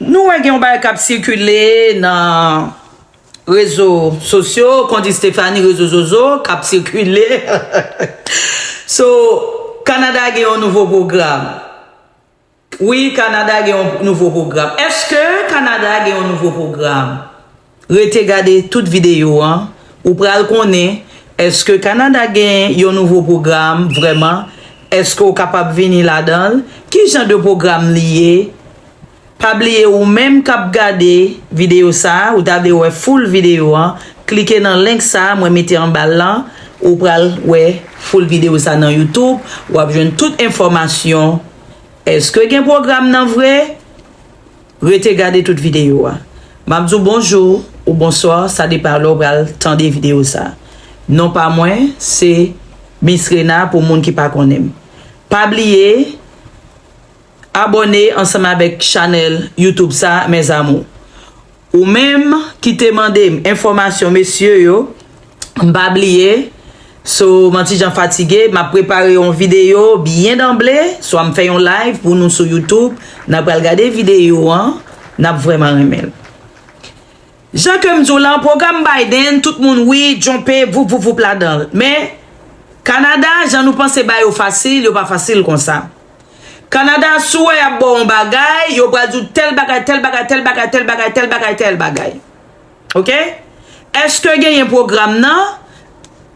Nou wè gen yon bagay kap sikile nan rezo sosyo kont Estefani rezo zozo kap sikile So Kanada gen yon nouvo pwogram Wi Kanada gen yon nouvo pwogram Eske Kanada gen yon nouvo pwogram? Rete gade tout videyo an, ou pral konnen eske Kanada gen yon nouvo pwogram vrèman, eske w kapab vini ladan l, ki jan de pwogram li ye. Pa bliye ou menm k ap gade videyo sa a, ou ta vle wè full videyo an, klike nan link sa a mwen mete anba l lan, ou pral wè full videyo sa a nan youtube, w ap jwenn tout enfòmasyon, eske gen pwogram nan vre? Rete gade tout videyo a. M ap di w bonjou ou bonswa, sa depan lè w pral tande videyo sa. Non pa mwen se Miss Rena pou moun ki pa konnen m. Pa bliye abòne ansanm avèk chanèl YouTube sa mes amours. Ou menm ki te mande m enfòmasyon mesye yo. M pa bliye, so m antijan fatige, m ap prepare yon videyo byen danble, swa m fè yon live pou nou sou YouTube, n ap pral gade videyo an, n ap vrèman renmen l. Jan ke m di w lan, pwogram Biden, tout moun wi, djonpe, voup voup voup ladan l. Men, Kanada, jan nou panse ba yo fasil, yo pa fasil konsa. Kanada, si w wè y ap ba w yon bagay, yo pral di w tèl bagay, tèl bagay, tèl bagay, tèl bagay, tèl bagay, tèl bagay. Ok eske genyen program nan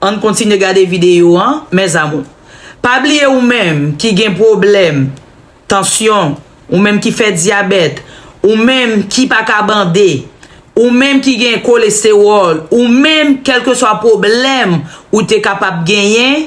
Ann kontinye gade video an mes amours pa bliye ou menm ki gen pwoblèm tansyon ou menm ki fè dyabèt ou menm ki pa ka bande ou menm ki gen kolestewòl ou menm kelkeswa pwoblèm ou te kapab genyen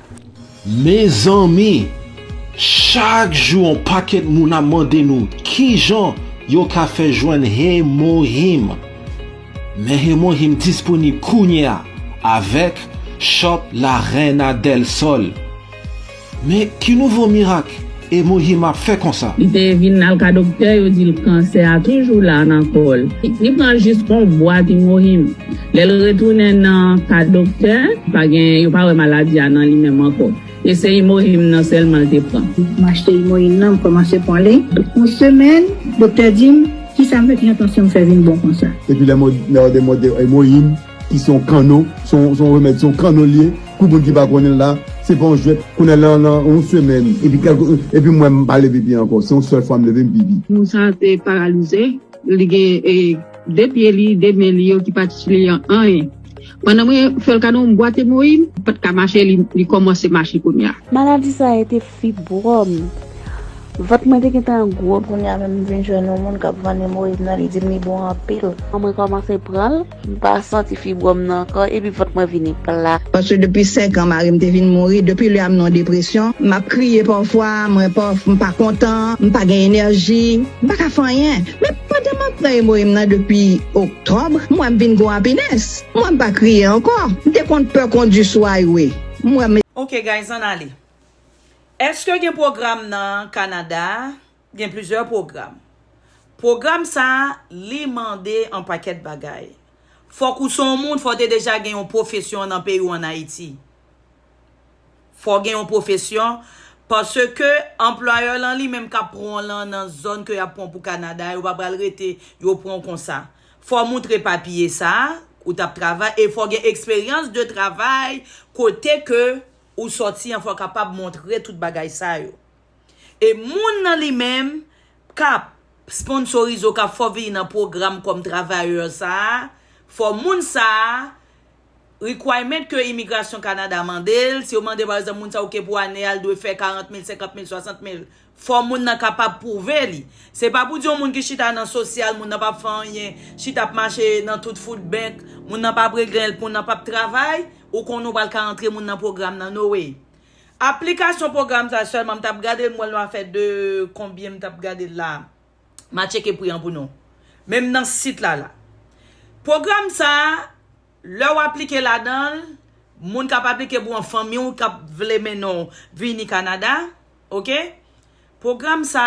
Mezanmi! Chak jou on pakèt moun ap mande nou kijan yo ka fè jwenn Hemohim. Men Hemohim disponib kounye a avèk Shop La Reina Del Sol. Men ki nouvo mirak? Emoji map fè konsa. Li te vin al ka doktè yo dil kansè a toujou la nan kòl li pran jis on bwat imohim lèl retounen nan ka doktè pa gen yo pa wè maladi a nan li menm ankò e se imohim nan sèlman l te pran. M achte imohim nan m kòmanse pwan li on semèn doktè dim kisam fè ki nan tansyon m fè vin bon konsa. Epi lè mòde mòde imohim. Ki se yon kanno, se yon remèd, se yon kanno li ye. Pou moun ki pa konnen l la, se pa yon jwèt. Kounye a la, nan yon semèn, epi mwen m pa leve pye ankò. Se yon sèl fwa m leve, m pi bi. Moun sa a te paralize. Li gen de pye li, de men li yo ki pa t itile anyen. Pandan mwen fè l kado yon bwat emoyin, li pa t ka mache, li kòmanse mache kounye a. Maladi sa a te fibwòm m. Vant mwen te gentan gwo. Kounye a menm m vin jwenn yon moun k ap vann emoyin nan, li di m li bon anpil. Mwen kòmanse pran l. M pa santi fibwòm nan ankò epi vant mwen vini plat. Paske depi 5 an mari m te vin mouri, depi lè a m nan depresyon, m ap kriye pafwa, mwen paf, m pa kontan, m pa gen enèji, m pa ka fè anyen. Men pandan m ap pran emoyim nan depi oktòb, m wè m vin gon apinès. M wè m pa kriye ankò. M te konn pè kondi sou highway. M wè m. Ok guys ann ale. Eske gen pwogram nan Canada Gen plizyè pwogram. Pwogram sa a, li mande yon pakèt bagay. Fòk ou se yon moun, fò w te deja gen yon pwofesyon nan peyi w an Ayiti. Fò w gen yon pwofesyon, paske anplwayè w lan li menm k ap pran w lan nan zòn ke y ap pran w pou Kanada a, yo pa pral rete yo pran w konsa. Fò w montre papye sa a, ou t ap travay, e fò w gen eksperyans de travay kote ke ou sòti an, fò w kapab montre tout bagay sa yo. E moun nan li menm kap sponsorize w kap fè w vini nan pwogram kòm travayè sa a, fò moun sa a, requirement ke Imigrasyon Kanada mande l, si yo mande pa egzanp moun sa a ok pou ane a li dwe fè 40 mil, 50 mil, 60 mil, fò moun nan kapab pwouve li. Se pa pou di yon moun ki chita nan sosyal, moun nan pap fè anyen, chita ap mache nan tout food bank, moun nan pap regle, moun nan pap travay, ou konnen ou pral ka antre moun nan pwogram nan no way. Aplikasyon pwogram sa sèlman m tap gadel m wèl nou a fè de konbyen m tap gadel la ma tcheke pri an pou nou menm nan sit la la pwogram sa lè w aplike ladanl moun kap aplike pou an fanmi w kap vle mennen w vini Canada ok pwogram sa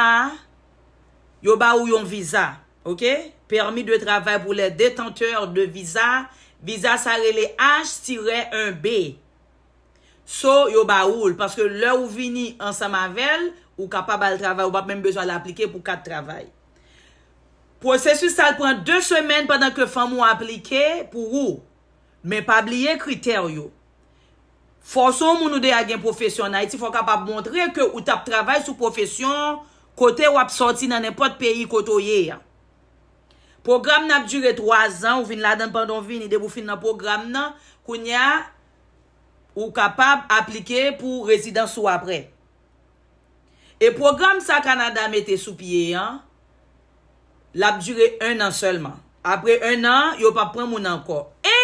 yo ba ou yon viza ok permis de travail pour les détenteurs de visa viza sa rele H-1B So yo ba oul paske lè ou vini ansanm avèl ou kapab al travay ou pap menm bezwen al aplike pou kat travay. Pwosesis sal pran 2 semèn pandan ke fanm ou aplike pou ou. Men pa bliye kritè ou yo. Fòw son moun ou deya gen pwofesyon an Ayiti fòw kapab montre ke ou tap travay sou pwofesyon kote wap sòti nan nenpòt peyi kote ou ye a. Pwogram nan ap dire 3 zan ou vin ladann pandan ou vini depi ou fin nan pwogram nan kounya Ou kapab aplike pou rezidans ou apre. E pwogram sa Kanada mete sou pye an, l ap dire 1 an sèlman. Apre 1 an, yo pap pran moun ankò. E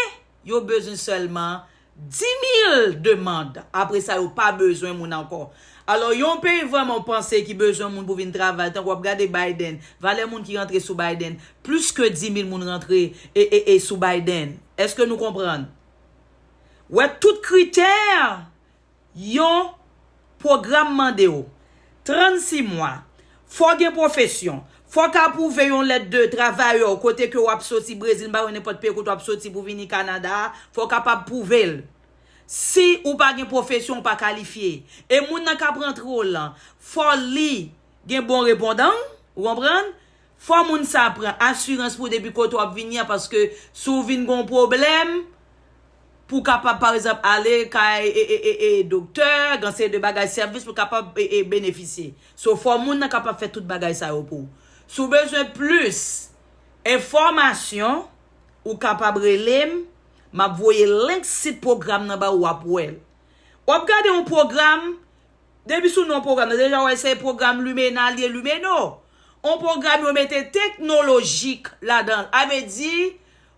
yo bezwen sèlman 10,000 demand. Apre sa yo pa bezwen moun ankò. Alò yon peyi vrèman ou panse ki bezwen moun pou vin travay, tankou w ap gade Biden, valè moun ki rantre sou Biden, plis ke 10,000 moun rantre e e e sou Biden. Eske nou konprann? Wè tout kritè yon pwogram mande w. 36 mwa. Fò w gen pwofesyon. Fò w ka pwouve yon lèt de travayè w kote ke w ap soti Brezil, m pa wè nenpòt peyi kote w ap soti pou vini Kanada a, fò w kapab pwouve l. Si ou pa gen pwofesyon ou pa kalifye. E moun nan k ap rantre w lan, fò li gen bon repondan, ou konprann? Fò moun sa pran asirans pou depi kote wap vini an paske si w vin gon pwoblèm pou kapab pa egzanp ale kay e doktè gan seri de bagay sèvis pou kapab e benefisye so fò moun nan kapab fè tout bagay sa yo pou w si w bezwen plis enfòmasyon ou kapab rele m map voye link sit pwogram nan ba ou wap wè l wap gade yon pwogram Depi sou non pwogram nan, deja wè se pwogram Lumena li ye, Lumeno. On pwogram yo mete teknolojik ladan l. A vle di,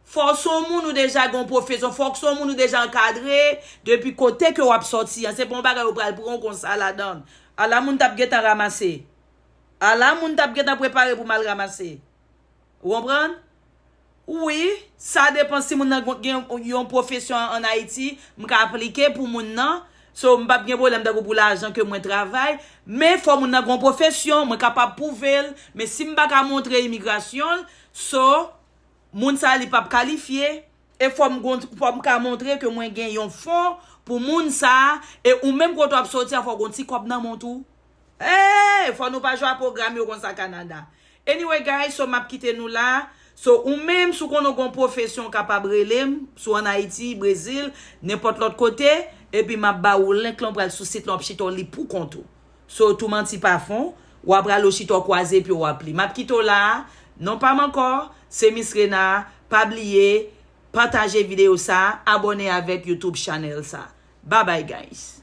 fò w son moun ou deja gen yon pwofesyon, fò w son moun ou deja ankadre, depi kote ke w ap sòti an, se pa yon bagay yo pral pran w konsa ladan l. Ala moun t ap gentan ramase. Ala moun t ap gentan prepare pou mal ramase. Ou konprann? Wi, sa depan si moun nan gen yon pwofesyon an Ayiti, m ka aplike pou moun nan. So, m pap gen pwoblèm tankou pou lajan ke mwen travay. Men, fò moun nan gen yon pwofesyon, mwen kapab pwouve l. Men, si m pa ka montre imigrasyon l, so, moun sa li pap kalifye. E fò m gen, fò m ka montre ke mwen gen yon fon pou moun sa a. E ou menm kote w ap soti a, fò w gen yon ti kòb nan men w tou. Eehh fò nou pa jwe a program yo konsa Canada. Anyway guys so map kite nou la So ou menm si w konnen w gen yon profesyon w kapab rele m si w an Ayiti, Brezil, nenpòt lòt kote epi map ba ou link lan pral sou sit lan w ap chita w li pou kont ou So tou manti pa fon w ap rale w chita w kwaze pye w w ap li Map kite w la a Non pa m ankò se Miss Rena Pa bliye pataje videyo sa a abòne avèk YouTube channel sa a Babay guys.